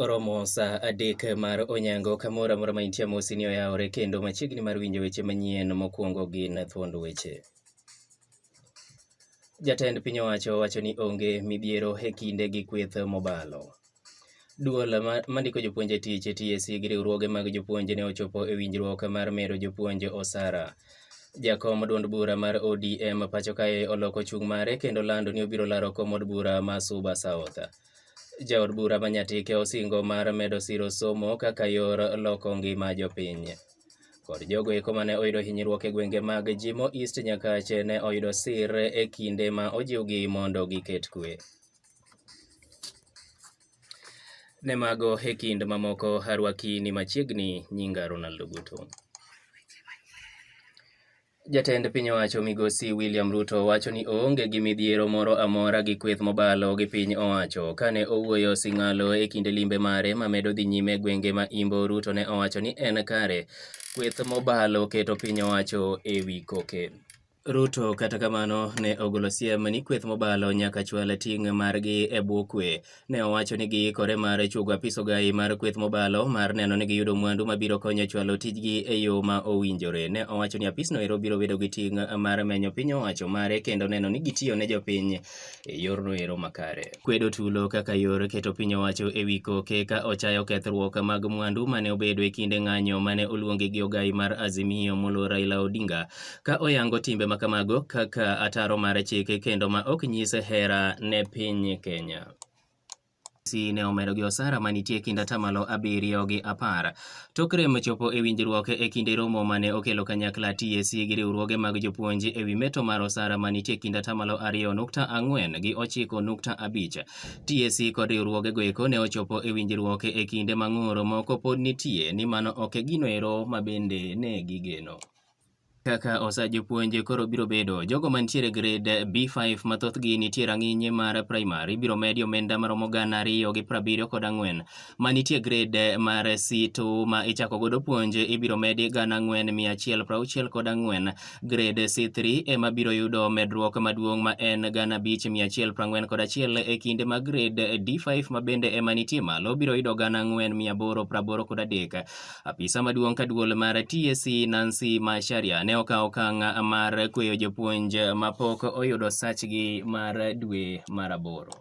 Oromo saa adek mar onyango kamoro amora ma intie amosi ni oyawore kendo machiegni mar winjo weche manyien mokwongo gin thuond weche. Jatend piny owacho wacho ni onge midhiero e kinde gi kweth mobalo. Duol mandiko jopuonj e tich TSC gi riwruoge mag jopuonj ne ochopo e winjruok mar mero jopuonj osara. Jakom duond bura mar ODM pacho kae oloko chung' mare kendo lando ni obiro laro kom od bura ma Suba South. Jaod bura ma Nyatike osingo mar medo siro somo kaka yor loko ngima jopiny. Kod jogo eko mane oyudo hinyruok e gwenge mag Jimo East Nyakache ne oyudo sir e kinde ma ojiwgi mondo giket kwe. Ne mago e kind mamoko arwaki ni machiegni nyinga Ronaldo Guto. Jatend piny owacho migosi William Ruto wacho ni oonge gi midhiero moro amora gi kweth mobalo gi piny owacho. Kane owuoyo Sing'alo e kinde limbe mare mamedo dhi nyime gwenge ma Imbo, Ruto ne owacho ni en kare kweth mobalo keto piny owacho e wi koke. Ruto kata kamano ne ogolo siem ni kweth mobalo nyaka chwal ting' margi e bwo kwe. ne owacho ni giikore mar chugo apis ogayi mar kweth mobalo mar neno ni giyudo mwandu mabiro konyo chwalo tijgi e yo ma owinjore. Ne owacho ni apisno ero biro bedo gi ting' mar menyo piny owacho mare kendo neno ni gitiyo ne jopiny e yorno ero makare. Kwedo tulo kaka yor keto piny owacho e wi koke ka ochayo kethruok mag mwandu mane obedo e kinde ng'anyo mane oluongi gi ogayi mar Azimio molo Raila Odinga ka oyango timbe ma kamago kaka ataro mar chike kendo ma ok nyis hera ne piny Kenya. Urusi ne omedo gi osara ma nitie e kind atamalo abiriyo gi apar. Tok rem chopo e winjruok e kinde romo ma ne okelo kanyakla TSC gi riwruoge mag jopuonj e wi meto mar osara ma nitie e kind atamalo ariyo nukta ang'wen gi ochiko nukta abich. TSC kod riwruogego eko ne ochopo e winjruok e kinde ma ng'ur moko pod nitie ni mano ok e ginoero ma bende ne gigeno. kaka osa jopuonj koro biro bedo. Jogo mantiere grade B5 ma thothgi nitie rang'iny mar primary ibiro medi omenda maromo gana ariyo gi prabiriyo kod ang'wen. Ma nitie grade mar C2 ma ichako godo puonj ibiro medi gana ang'wen mia achiel prauchiel kod ang'wen. Grade C3 ema biro yudo medruok maduong' ma en gana abich mia achiel prang'wen kod achiel e kinde ma grade D5 ma bende ema nitie malo biro yudo gana ang'wen mia aboro praboro kod adek. Apisa maduong' ka duol mar TSC e, Nancy Macharia ne okawo okang' mar kweyo jopuonj mapok oyudo sachgi mar dwe mar aboro.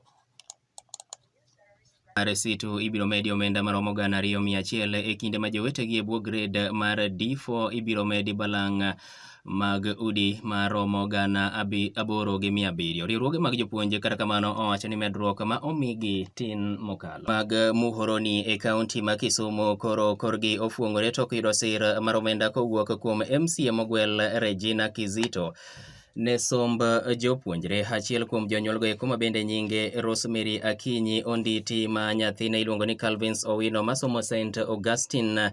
Resitu ibiro medi omenda maromo gana ariyo mia achiel e kinde ma jowetegi e bwo gred mar D4 ibiro medi balang' mag udi ma romo gana aboro gi mia abiriyo. Riwruoge mag jopuonj kata kamano owacho ni medruok ma omigi tin mokalo. Mag Muhoroni e kaunti ma Kisumu koro korgi ofuongore tok yudo sir mar omenda kowuok kuom MCA mogwel Regina Kizito ne somb jopuonjre. Achiel kuom jonyuolgo eko ma bende nyinge Rosemary Akinyi Onditi ma nyathine iluongo ni Calvins Owino masomo St Augustine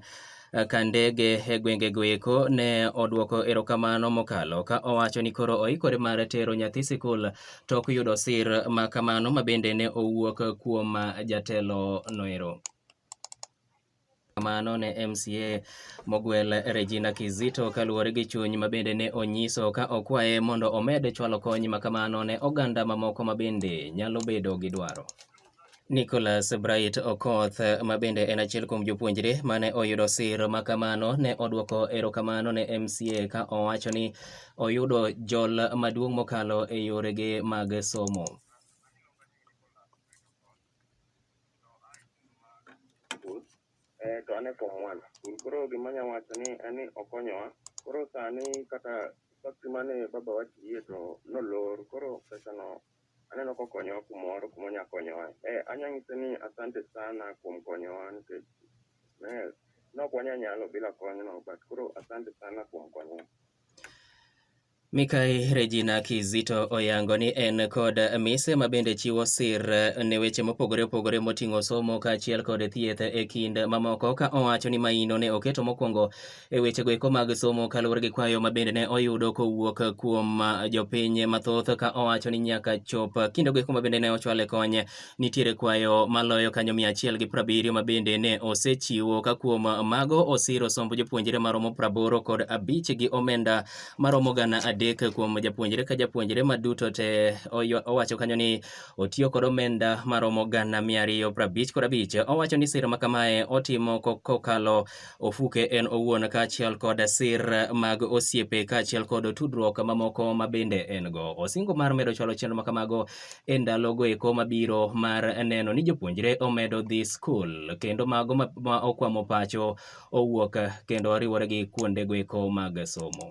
ka ndege e gwengego eko ne odwoko erokamano mokalo ka owacho ni koro oikore mar tero nyathi sikul tok yudo sir ma kamano ma bende ne owuok kuom jatelo noero kamano ne MCA mogwel Regina Kizito kaluwore gi chuny ma bende ne onyiso ka okwaye mondo omed chwalo kony ma kamano ne oganda mamoko ma bende nyalo bedo gi dwaro. Nicholas Bright Okoth ma bende en achiel kuom jopuonjre mane oyudo sir ma kamano ne odwoko erokamano ne MCA ka owacho ni oyudo jol maduong' mokalo e yorege mag somo. to an e form one koro gima nya wacho ni en ni okonyowa koro sani kata factory mane baba wa tiye to nolor koro pesano Aneno kokonyowa kumoro kuma onya konyowa. Eh, anya ng'ise ni asante sana kuom konyowa nikech eh, nok wanya nyalo bila konyno but koro asante sana kuom konyowa. Mikai Regina Kizito oyango ni en kod mise ma bende chiwo sir eh, ne weche mopogore opogore moting'o somo kaachiel kod thieth e kind mamoko ka owacho ni maino ne oketo mokwongo e wechego eko mag somo kaluwore gi kwayo ma bende ne oyudo kowuok kuom ah, jopiny mathoth ka owacho ni nyaka chop kindego eko ma bende ne ochwale kony nitiere kwayo maloyo kanyo mia achiel gi prabiriyo ma bende ne osechiwo ka kuom mago osiro somb jopuonjre maromo praboro kod abich gi omenda maromo gana adek kuom japuonjre ka japuonjre ma duto te oywa- owacho kanyo ni otiyo kod omenda maromo gana mia ariyo prabich kod abich owacho ni siro ma kamae otimo ko- kokalo Ofuke en owuon kaachiel kod sir mag osiepe kaachiel kod tudruok mamoko ma bende en go. Osingo mar medo chwalo chenro ma kamago e ndalogo eko mabiro mar neno ni jopuonjre omedo dhi skul kendo mago ma okwamo pacho owuok kendo riwore gi kuondego eko mag somo.